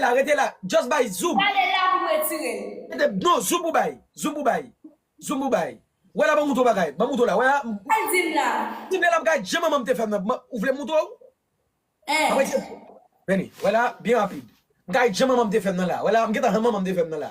la rete la just bay zoom. Gade la pou retire l. Rete non zoom pou bay. Zoom pou bay. Zoom pou bay. Wè la banm moutre w bagay. Banm moutre w la wè a. Al di m la. Di m la bagay jan manman m te fè m nan ou vle m moutre w. Aprè se. Vini. Wè la byen rapid. M ka di jan manman m te fè m nan la. Wè la m gentan jan manman m te fè m nan la.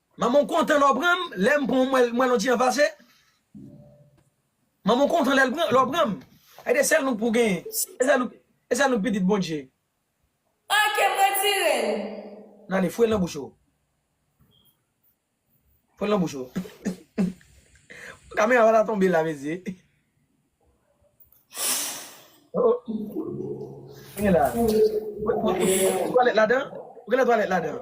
Manman w kontan lè w pran m, lè m pran w m wè mwen l on ti jan pase. Manman w kontan lè l pran, lè w pran m. E se sèl nou k pou genyen, e sèl nou, e sèl nou k pitit Bondje. Ok m retire l. Nan ale fouye l nan bouch ou. Fouye l nan bouch ou. Bon kamera pa ta tonbe la mezi. Oh oh. Sa gen la? Ou gen twalèt ladan? Ou gen lè twalèt ladan?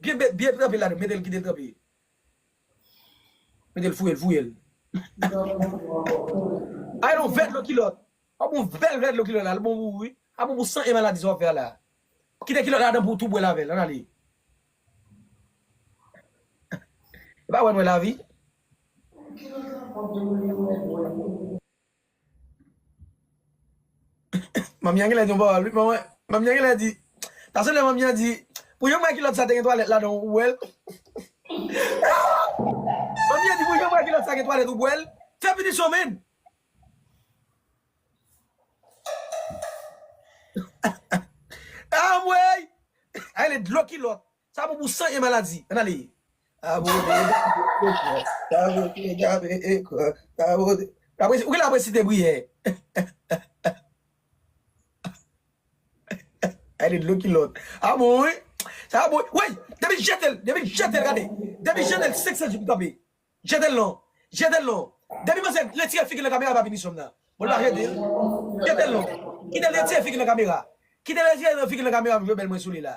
Byen met byen tranpe ladann metel kitel tranpe metel fouyel fouyel. Ay lon vè dlo kilòt. Wap bon bèl vè dlo kilòt la, li bon pou ou wi. A bon pou san e maladi sa wap fè a la. Kite kilòt ladan pou ou tou bwèl avèl, ann ale. Epa wè nou wè lavi. Manmi an genlè di yon pawòl wi manman manmi an genlè di ta sanble manmi an di pou yon mwa kilòt sa te gen twalèt ladan ou wèl manmi an di pou yon mwa kilòt sa gen twalèt ou bwèl fè pinisyon menn anmweyy sa rele dlo kilòt. Sa bon pou san e maladi. Ann ale. Abone Ou gen lè ap resite priyè. Ay de dlo kilòt. Sa bon wi. Sa bon wi. Woy! Depi l jete l. Depi l jete l gade. Depi l jete l 500 jou pou kanpe. Jete l non. Jete l non. Depi manzè retire figi l nan kamera l pa vini sou m nan. Bon l pa jete l. Jete l non. Kite l retire figi l nan kamera. Kite l retire figi l nan kamera m jwe bèl mwen sou li la.